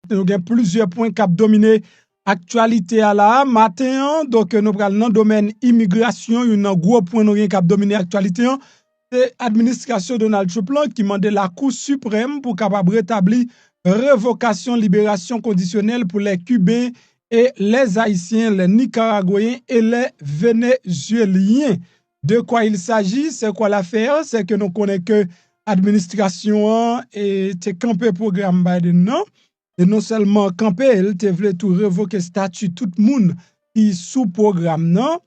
Nou gen plizyè pwen k ap domine aktyalite a la a maten an. Donk nou pral nan domèn imigrasyon, youn nan gwo pwen nou gen k ap domine aktyalite an. Se administrasyon Donald Trump lan ki mande Lakou Siprèm pou kapab retabli revokasyon liberasyon kondisyonèl pou lè Kiben e lè Ayisyen, lè Nikaragweyen e lè Venezyelyen. De quoi il s'agit? C'est quoi l'affaire? C'est que nou konnen ke administrasyon an te kanpe pwogram Biden nan, e non sèlman kanpe l, te vle tou revoke stati tout moun ki sou pwogram nan,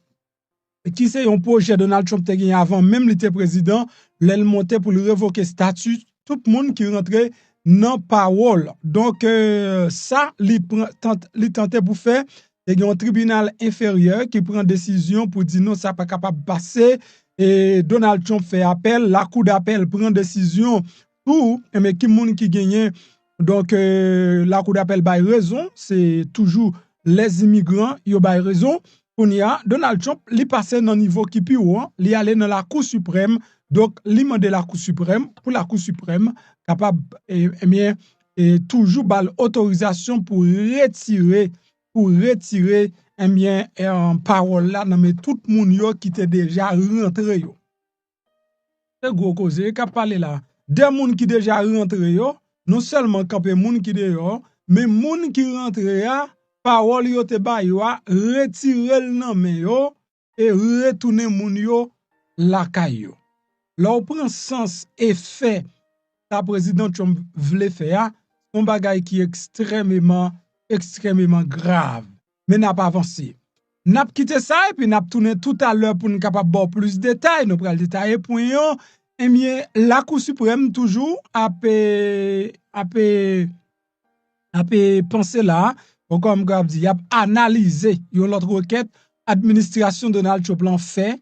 ki se yon pwojè Donald Trump te genyen avan menm li te prezidan, lè l monte pou l revoke stati tout moun ki rantre nan pawòl. Donk sa li tante pou fè, te gen yon tribinal enferyè ki pran desizyon pou di non sa pa kapab pase, e Donald Trump fè apèl, lakou dapèl pran desizyon pou, e men ki moun ki genyen Donk lakou dapèl bay rezon se toujou lè imigran yo bay rezon kounye a Donald Trump li pase nan nivo ki pi wo an li ale nan lakou siprèm donk li mande lakou siprèm pou lakou siprèm kapab ebyen toujou ba l otorizasyon pou retire pou retire ebyen pawòl la nan men tout moun yo ki te deja rantre yo. Se gwo koze kap pale la. De moun ki deja rantre yo, non sèlman kanpe moun ki deyò, men moun ki rantre a, pawòl yo te ba yo a, retire l nan men yo, e retounen moun yo lakay yo. Lè w pran sans e fè sa Prezidan Trump vle fè a, se yon bagay ki ekstrèmeman, ekstrèmeman grav. men nap avanse. Nap kite sa epi nap tounen toutalè poun kapab baw plis detay, nou pral detaye pwen yo, ebyen lakou siprèm toujou ap ap ap panse la, bon kòm mwen ap di yap analize yon lòt rekèt administrasyon Donald Trump lan fè.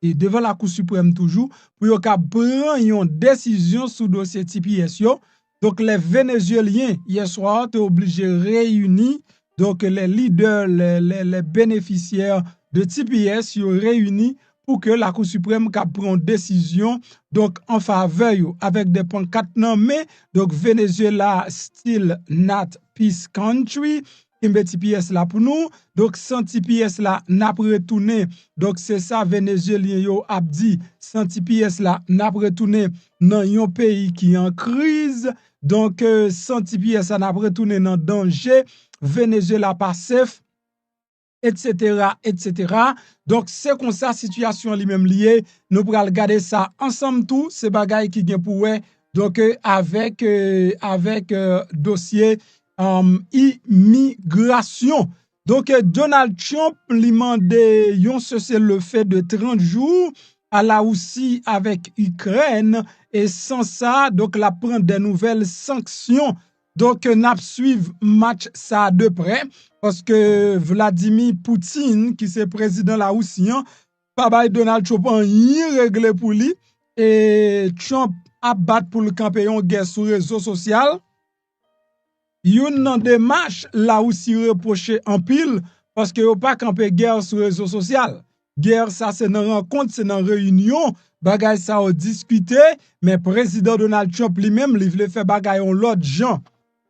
e devan lakou siprèm toujou pou yo kab pran yon desizyon sou dosye tps yo, donk lè Venezyelyen yè swa te oblije reyini, donk lè lidè, lè benefisyè de tps yo reyini pou ke lakou siprèm kab pran yon desizyon, donk an favè yo, avèk de pankat nan men, donk Venezyela still not peace country, Kenbe tps la pou nou. Donk san tps la nap retounen. Donk se sa Venezyelyen yo ap di. San tps la nap retounen nan yon peyi ki an kriz. Donk san tps la nap retounen nan danje. Venezyela pa sef. Etc. Etc. Donk se konsa sitiyasyon li menm li ye. Nou pral gade sa ansanm tou. Se bagay ki gen pou wè. Donk avèk avèk dosye. imigrasyon. Donk Donald Trump li mande yon sese le fe de 30 jou a la Wousi avek Ikrèn e san sa donk la pran de nouvel sanksyon. Donk nap swiv match sa de pre paske Vladimi Poutine ki se prezidan la Wousi an pa bay Donald Trump anyen regle pou li e Trump ap bat pou l kanpe yon gè sou rezo sosyal. Youn nan demach Lawousi repwoche anpil paske yo pa kanpe gè sou rezo sosyal. Gè sa se nan rankont, se nan reyinyon bagay sa yo diskite men Prezidan Donald Trump li menm li vle fè bagay yon lòt jan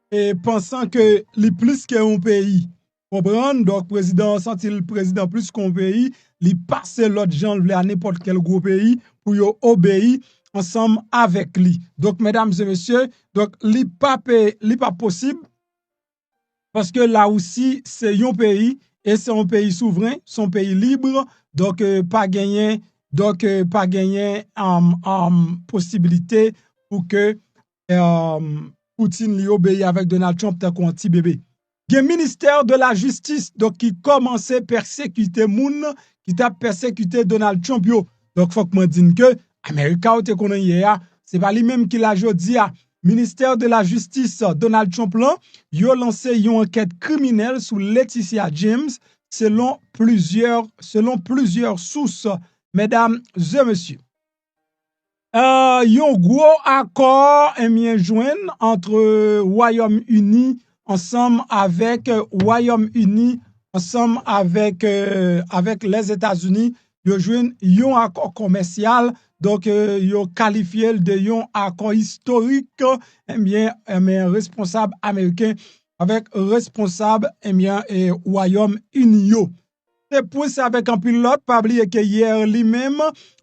e pansan ke li plis ke yon peyi. Konprann dòk prezidan an santi l prezidan plis ke yon peyi, li pase lòd jan l vle a nenpòt kèl gwo peyi pou yo obeyi ansanm avèk li. Donk medam e mesye, donk li pa pe, li pa posib paske Larisi se yon peyi e se yon peyi souvren, se yon peyi libre, donk pa genyen, donk pa genyen, amm, amm, posibilite pou ke Poutine li obeyi avèk Donald Trump tankou yon ti bebe. Gen ministè de la jistis donk ki kòmanse pèsekite moun ki t ap pèsekite Donald Trump yo. Donk fòk mwen di n ke America ou te konnen yè a se pa li menm ki la jodi a. Ministè de la jistis Donald Trump lan yo lanse yon ankèt kriminèl sou Letitia James selon plizyè selon plizyè sous medam e mesye. Yon gwo akò enbyen jwenn antre Wayòm Ini ansanm avèk Wayòm Ini ansanm avèk Lèzetazini yo jwenn yon akò komèsyal donk yo kalifye l de yon akò istorik enbyen enbyen responsab ameriken avèk responsab enbyen Wayòm Ini yo Se pwen sa avèk anpil lòt, pa bliye ke yè li menm,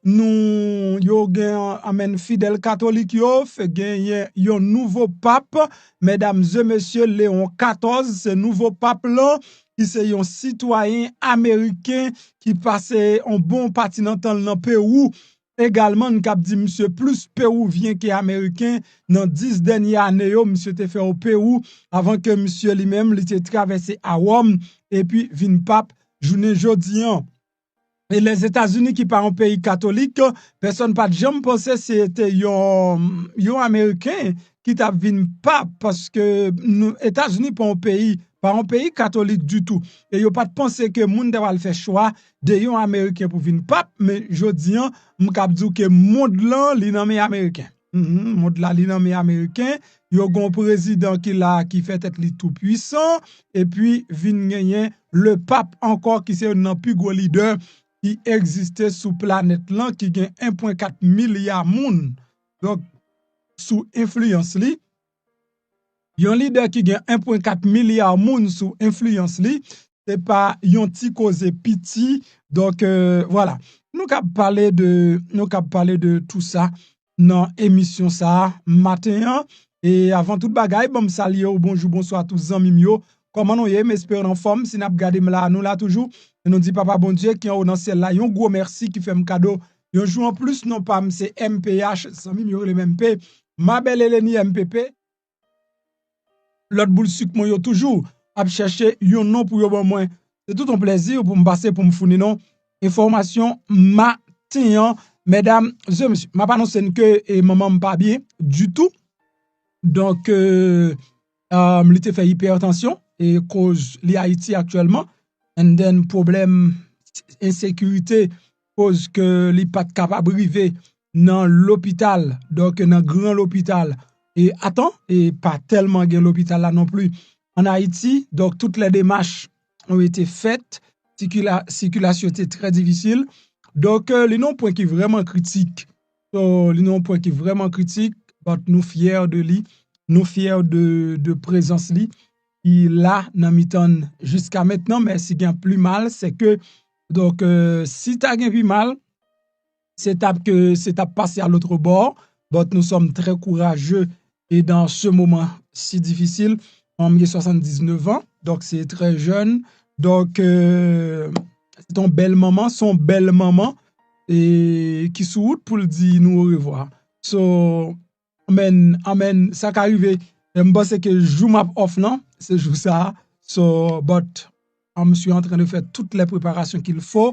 nou, yo gen anmenn fidèl katolik yo, fè genyen yon nouvo pap, medam ze mesye, Leon 14, se nouvo pap lan, ki se yon sitwayen ameriken, ki pase yon bon pati nan tan l nan Pewou, Egalman n kab di misye plis pewouvyen ke ameriken nan 10 dènye ane yo misye te fè o pewou avan ke misye li menm li te travèse a Wòm epi vin pap jounen jodi an. E Lèzetazini ki pa yon peyi katolik pèsòn pat janm panse se te yon ameriken ki tap vin pap paske Etazini pa yon peyi pa yon peyi katolik ditou e yo pat panse ke moun ta pral fè chwa de yon ameriken pou vin pap men jodi an m kab di w ke mond lan li nan men ameriken mond la li nan men ameriken yo gon prezidan ki la ki fè tèt li tou pwisan epi vin genyen le pap ankò ki se yon nan pi gwo lidè ki egziste sou planèt lan ki gen 1.4 milya moun donk sou enfliyans li Yon lidè ki gen 1.4 milya moun sou enfliyans li, se pa yon ti koze piti, donk vwala. Nou kab pale de, nou kab pale de tou sa nan emisyon sa a maten an. E avan tout bagay, banm salye ou bonjou, bonswa tout zanmi m yo. Kòman nou ye? M espere nou anfòm. Si n ap gade m la, nou la toujou. E nou di Papa Bondye ki anwo nan syèl la yon gwo mèsi ki fè m kado Yon jou an plis non pam se mph zanmim yo relem MP ma belle Elenie mpp lòt boul sik mwen yo toujou ap chèche yon non pou yo ban mwen se tout yon plèzi poum pase poum founi nou enfòmasyon maten an medam zye mesye map anonse n ke manmanm pa byen ditou donk li te fè ipertansyon e koz li ayiti aktyèlman and then pwoblèm ensekirite koz ke li pat kapab rive nan lopital, donk nan gran lopital e atan, e pa tèlman gen lopital la non pli an Ayiti, donk tout lè demach ou ete fèt, sikilasyon te trè difisil, donk li nan pwen ki vreman kritik, li nan pwen ki vreman kritik, bat nou fyè de li, nou fyè de prezans li, ki la nan mitan jiska mentnan, men si gen pli mal, se ke Donk si ta gen pi mal, se tap ke se tap pase a lotre bò, but nou sòm trè kouraje e dan se moman si difisil, mwen gen 79 an, donk se trè jèn, donk se ton bèl manman, son bèl manman e ki sou wout pou l di nou orevwa. Amen amen sa ka rive m panse ke jou map off lan se jou sa so but m su antren de fè tout lè preparasyon kil fo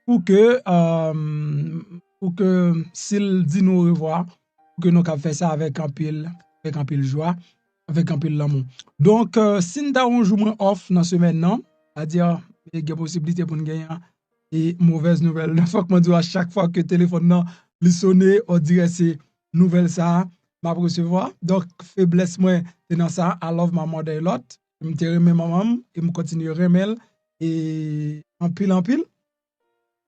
pou ke pou ke sil di nou orevwa pou ke nou kab fè sa avèk anpil avèk anpil jwa avèk anpil lanmou donk si n ta yon jou mwen off nan semèn nan a di a gen posibilite pou n gen yon e movèz nouvèl fòk mwen di w a chak fwa ke telefòn nan li sone on dirè se nouvel sa map resevwa donk feblès mwen se nan sa I love my mother a lot m te renmen manman m e m kontinye renmen l anpil anpil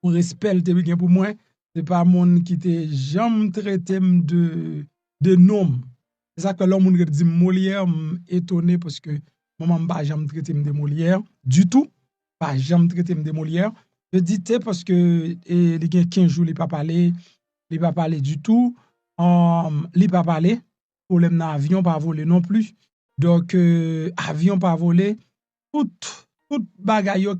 pou respè l te gen pou mwen se pa moun ki te janm trete m de non m se sak fè lè yon moun ret di m Moliè m etone paske manman m pa janm trete m de Moliè ditou pa janm trete m de Moliè je di te paske li gen 15 jou li pa pale Li pa pale ditou Humm li pa pale Pwoblèm nan avyon pa vole non pli Donk avyon pa vole Tout Tout bagay yo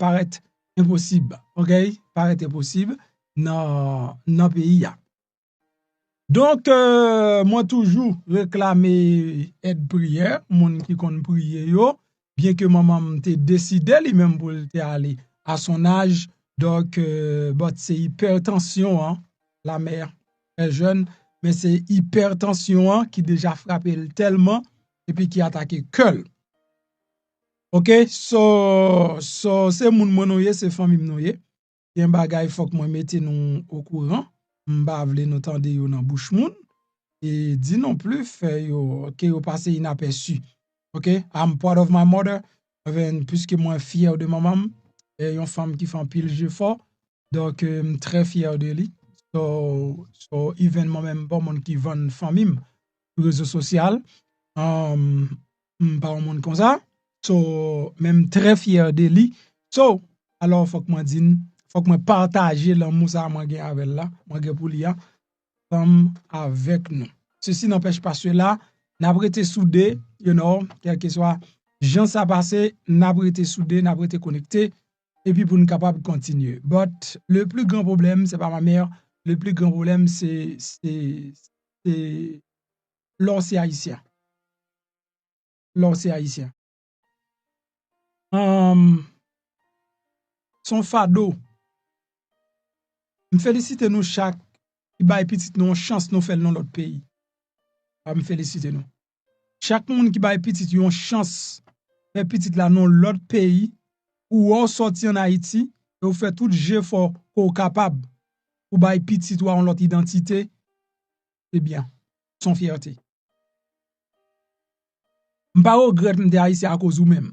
parèt enposib Ok Parèt enposib Nan Nan peyi a Donk Mwen toujou reklame Èd priyè Moun ki konn priye yo byen ke manman m te deside li menm pou l te ale a son aj donk but se ipètansyon an la mè trè jèn men se ipètansyon an ki deja frape l tèlman epi ki atake kè l ok so se moun mwen nou ye se fanmi m nou ye gen bagay fòk mwen mete nou okouran, m pa vle nou tande yo nan bouch moun, e di non pli fè yo ke yo pase inapèsi. Ok, I'm proud of my mother, enben puiske mwen fyè de manman m, e yon fanm ki fè anpil jefò, donk m trè fyè de li, so, so even mwen menm m pa w moun ki vann fanmi m sou rezo sosyal, um, m pa yon moun konsa so men m trè fyè de li so alò fòk mwen di n fòk mwen pataje lanmou sa mwen gen avè l la mwen gen pou li a ansanm avèk nou sesi nanpèch pa sela n ap rete soude you know kèlkeswa jan sa pase n ap rete soude n ap rete konekte epi pou n kapab kontinye but le pli gran pwoblèm se pa ma mère le pli gran pwoblèm se se se lè w se Ayisyen. Lè w se Ayisyen. Se yon fado. M felisite nou chak ki bay pitit nou yon chans nou fè l nan lòt peyi. M felisite nou. Chak moun ki bay pitit yo yon chans fè pitit la nan lòt peyi, ou wè w soti an Ayiti, e ou fè tout jefò ke w kapab pou bay pitit ou a yon lòt idantite, Se byen. Se yon fyète. M pa regrèt m te Ayisyen akoz ou menm.